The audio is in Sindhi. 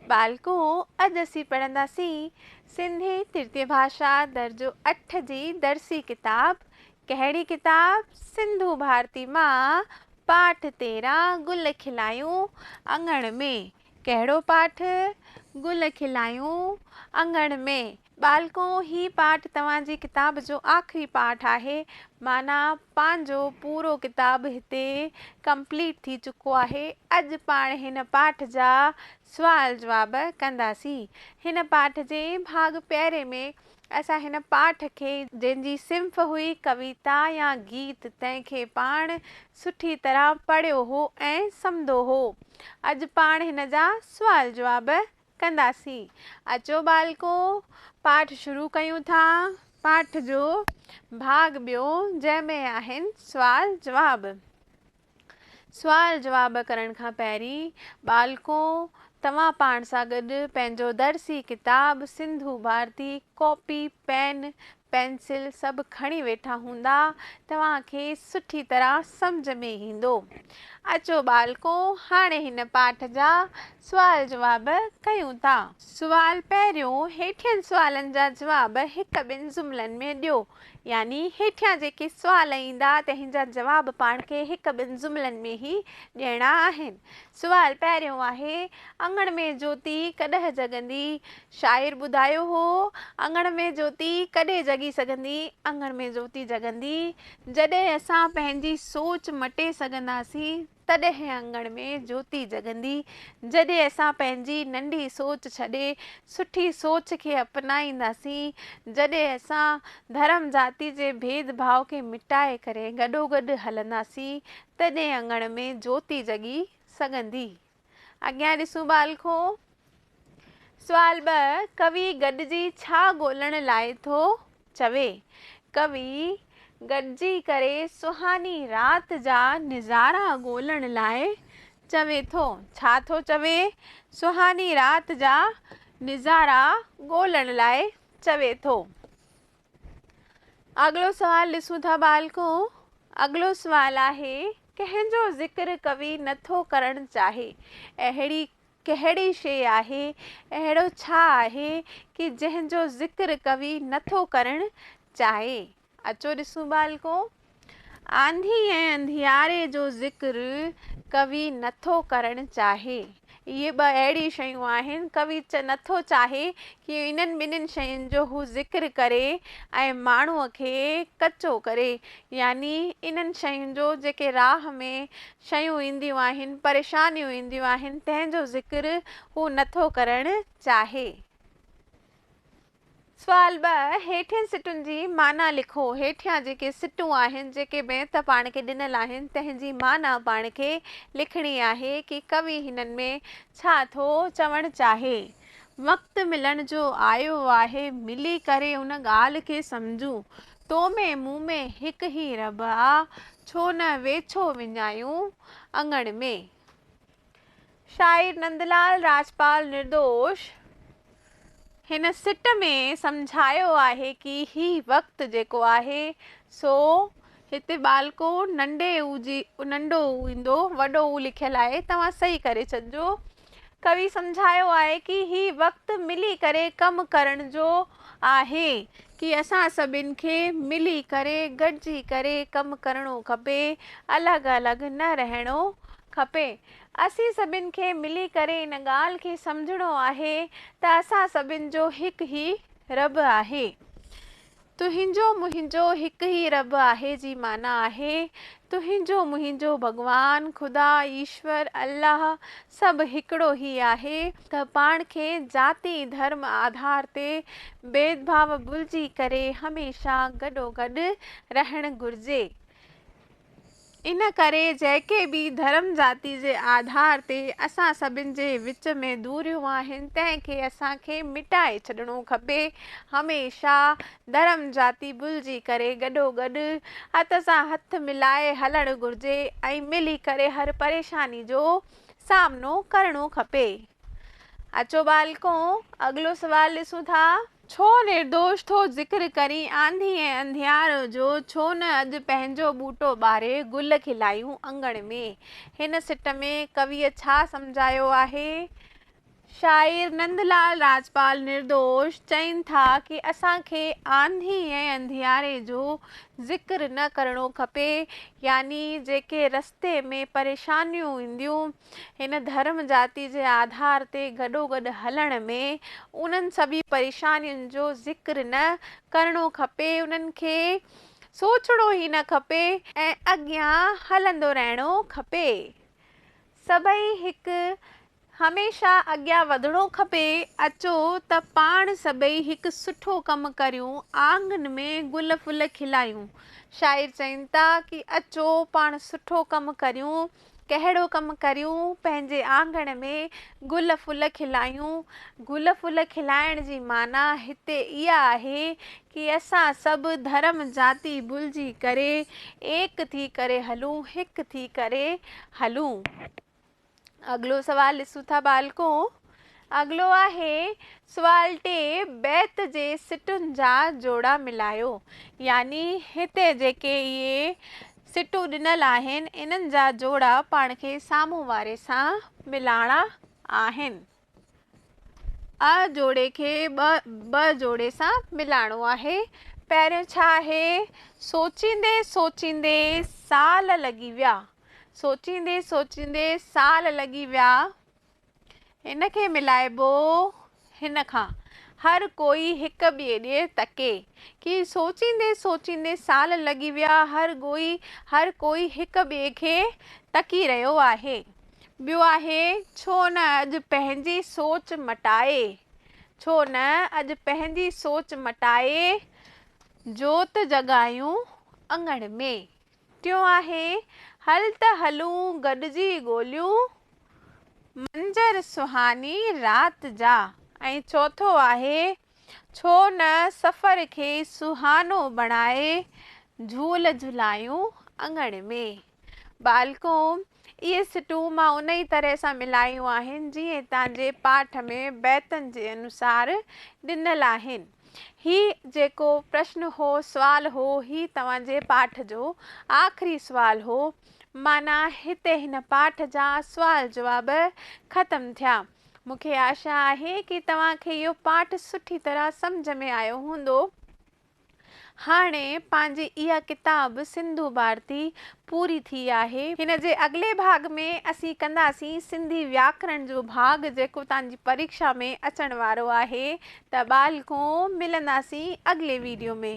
ٻالڪو، اڄ اسين پڙهنداسين سنڌي ترتية ڀاشا درجو اٺ جي درسي ڪتاب ڪهڙي ڪتاب سنڌو ڀارتي مان پاٺ تيرهن گل کلايون اڱڻ ۾، ڪهڙو پاٺ؟ گل کلايون اڱڻ ۾، ٻالڪو هي پاٺ توهان جي ڪتاب جو آخري پاٺ آهي معنيٰ پنهنجو پورو ڪتاب هتي ڪمپليٽ ٿي چڪو آهي اڄ پاڻ هن پاٺ جا سوال جواب ڪنداسين هن پاٺ جي ڀاڳ پهرين ۾ اسان هن پاٺ کي جنهن جي صنف هئي ڪويتا يا گيت تنهن کي پاڻ سٺي طرح پڙهيو هو ۽ سمدو هو اڄ پاڻ هن جا سوال جواب ڪنداسين. اچو ٻالڪو پاٺ شروع ڪيون ٿا. پاٺ جو ڀاڳ ٻيو جنهن ۾ آهن سوال جواب. سوال جواب ڪرڻ کان پهرين ٻالڪو توهان پاڻ سان گڏ پنهنجو درسي ڪتاب Sindhu Bharati copy pen pencil سڀ کڻي ويٺا هوندا توهان کي سٺي طرح سمجهه ۾ ايندو. اچو ٻالڪو هاڻي هن پاٺ جا سوال جواب ڪيون ٿا. سوال پهريون، هيٺين سوالن جا جواب هڪ ٻن جملن ۾ ڏيو. يعني هيٺيان جيڪي سوال ايندا تنهن جا جواب پاڻ کي هڪ ٻن جملن ۾ هي ڏيڻا آهن. سوال پهريون آهي، اڱڻ ۾ جوتي ڪڏهه جڳندي؟ شاعر ٻڌايو هو، اڱڻ ۾ جوتي ڪڏهن جڳي سگهندي؟ اڱڻ ۾ جوتي جڳندي، جڏهن اسان پنهنجي سوچ مٽي سگهنداسين، تڏهن اڱڻ ۾ جوتي جڳندي، جڏهن اسان پنهنجي ننڍي سوچ ڇڏي، سٺي سوچ کي اپنائينداسين، جڏهن اسان ڌرم ذاتي جي ڀيد ڀاء کي مٽائي ڪري گڏوگڏ هلنداسين، تڏهن اڱڻ ۾ جوتي جڳي سگهندي. اڳيان ڏسون بال کو. سوال ٻه، ڪوي گڏجي ڇا ڳولڻ لاء ٿو چوي؟ ڪوي گڏجي ڪري سهاني رات جا نظارا ڳولڻ لاء چوي ٿو. ڇا ٿو چوي؟ سهاني رات جا نظارا ڳولڻ لاء چوي ٿو. اڳلو سوال ڏسون ٿا ٻالڪو اڳلو سوال آهي ڪنهن جو ذڪر ڪوي نه ٿو ڪرڻ چاهي اهڙي ڪهڙي شي آهي اهڙو ڇا آهي ڪي جنهن جو ذڪر ڪوي نه ٿو ڪرڻ چاهي اچو ڏسون ٻالڪو آنڌي ۽ انڌياري جو ذڪر ڪوي نه ٿو ڪرڻ چاهي. اهي ٻه اهڙي شيون آهن، ڪوي نه ٿو چاهي ڪي انهن ٻنهين شين جو هو ذڪر ڪري ۽ ماڻهوء کي ڪچو ڪري. يعني انهن شين جو جيڪي راهه ۾ شيون اينديون آهن، پريشانيون اينديون آهن، تنهن جو ذڪر هو نه ٿو ڪرڻ چاهي. سوال ٻه، هيٺين سٽن جي معنيٰ لکو. هيٺيان جيڪي سٽون آهن، جيڪي بيت پاڻ کي ڏنل آهن، تنهن جي معنيٰ پاڻ کي لکڻي آهي ڪي ڪوي هنن ۾ ڇا ٿو چوڻ چاهي. وقت ملڻ جو آيو آهي، ملي ڪري ان ڳالهه کي سمجهون. تو ۾ مون ۾ هڪ هي رب آ، ڇو نه ويڇو وڃايون اڱڻ ۾. شاعر نندلال راجپال نردوش هن سٽ ۾ سمجهايو آهي ڪي هي وقت جيڪو آهي سو هتي ٻالڪو ننڊي او جي ننڊو او ايندو وڏو او لکيل آهي توهان صحيح ڪري ڇڏجو ڪوي سمجهايو آهي ڪي هي وقت ملي ڪري ڪم ڪرڻ جو آهي ڪي اسان سڀن کي ملي ڪري گڏجي ڪري ڪم ڪرڻو کپي الڳ الڳ نه رهڻو کپي اسين سڀن کي ملي ڪري ان ڳالهه کي سمجهڻو آهي ته اسان سڀن جو هڪ هي رب آهي تنهنجو منهنجو هڪ هي رب آهي جي معنيٰ آهي تنهنجو منهنجو ڀڳوان خدا ايشور الله سڀ هڪڙو هي آهي ته پاڻ کي ذاتي ڌرم آڌار تي بيدڀاء ڀلجي ڪري هميشه گڏوگڏ رهڻ گهرجي ان ڪري جيڪي به ڌرم ذاتي جي آڌار تي اسان سڀن جي وچ ۾ دوريون آهن تنهن کي اسان کي مٽائي ڇڏڻو کپي هميشه ڌرم جاتي ڀلجي ڪري گڏو گڏ هٿ سان هٿ ملائي هلڻ گهرجي ۽ ملي ڪري هر پريشاني جو سامنو ڪرڻو کپي. اچو ٻالڪون اڳلو سوال ڏسون ٿا. ڇو نردوش ٿو ذڪر ڪرين آنڌي ۽ انڌيارو جو ڇو نه اڄ پنهنجو ٻوٽو ٻاري گل کلايون اڱڻ ۾. هن سٽ ۾ ڪويء ڇا سمجهايو آهي؟ شاعر نند لال راجپال نردوش چئن ٿا ڪي اسان کي آنڌي ۽ انڌياري جو ذڪر نه ڪرڻو کپي يعني جيڪي رستي ۾ پريشانيون اينديون هن ڌرم جاتي جي آڌار تي گڏوگڏ هلڻ ۾ انهن سڀي پريشانين جو ذڪر نه ڪرڻو کپي انهن کي سوچڻو ئي نه کپي ۽ اڳيان هلندو رهڻو کپي سڀئي هڪ هميشه اڳيان وڌڻو کپي، اچو ته پاڻ سڀئي هڪ سٺو ڪم ڪريون، آڱن ۾ گل ڦل کلايون. شاعر چين ٿا ڪي اچو پاڻ سٺو ڪم ڪريون، ڪهڙو ڪم ڪريون، پنهنجي آنگڻ ۾ گل ڦل کلايون. گل ڦل کلائڻ جي معنيٰ هتي اها آهي ڪي اسان سڀ ڌرم جاتي ڀلجي ڪري ايڪ ٿي ڪري هلون، هڪ ٿي ڪري هلون. اڳلو سوال ڏسون ٿا ٻالڪو، اڳلو آهي سوال ٽي بيت جي سٽن جا جوڙا ملايو يعني هتي جيڪي اهي سٽون ڏنل آهن انهن جا جوڙا پاڻ کي سامهون واري سان ملاڻا آهن. ء جوڙي کي ٻه ب جوڙي سان ملائڻو آهي. پهريون ڇا آهي؟ سوچيندي سوچيندي سال لڳي ويا. سوچيندي سوچيندي سال لڳي ويا. هن کي ملائبو هن کان. هر ڪوئي هڪ ٻئي ڏي تڪي. ڪي سوچيندي سوچيندي سال لڳي ويا. هر ڪوئي هر ڪوئي هڪ ٻئي کي تڪي رهيو آهي. ٻيو آهي، ڇو نه اڄ پنهنجي سوچ مٽائي، ڇو نه اڄ پنهنجي سوچ مٽائي، جوت جڳايون اڱڻ ۾. ٽيون آهي، هل ته هلون گڏجي ڳوليون، منظر سهاني رات جا. ۽ چوٿون آهي، ڇو نه سفر کي سهانو بڻائي، جهول جهلايون اڱڻ ۾. ٻالڪون، اهي سٽون مان انهيء طرح سان ملايون آهن، جيئن تان جي پاٺ ۾ بيتن جي انوسار ڏنل آهن. هي جيڪو پرشن هو، سوال هو، هي توهان جي پاٺ جو آخري سوال هو. معنيٰ، هتي هن پاٺ جا سوال جواب ختم ٿيا. مون کي آشا آهي ڪي توهان کي اهو پاٺ سٺي طرح سمجهه ۾ آيو هوندو. هاڻي پنهنجي اها ڪتاب سنڌو ڀارتي پوري ٿي آهي. هن جي اڳلي ڀاڳ ۾ اسين ڪنداسين سنڌي وياڪرڻ جو ڀاڳ جيڪو توهان جي پريڪشا ۾ اچڻ وارو آهي ته ٻالڪو ملنداسين اڳلي ويڊيو ۾.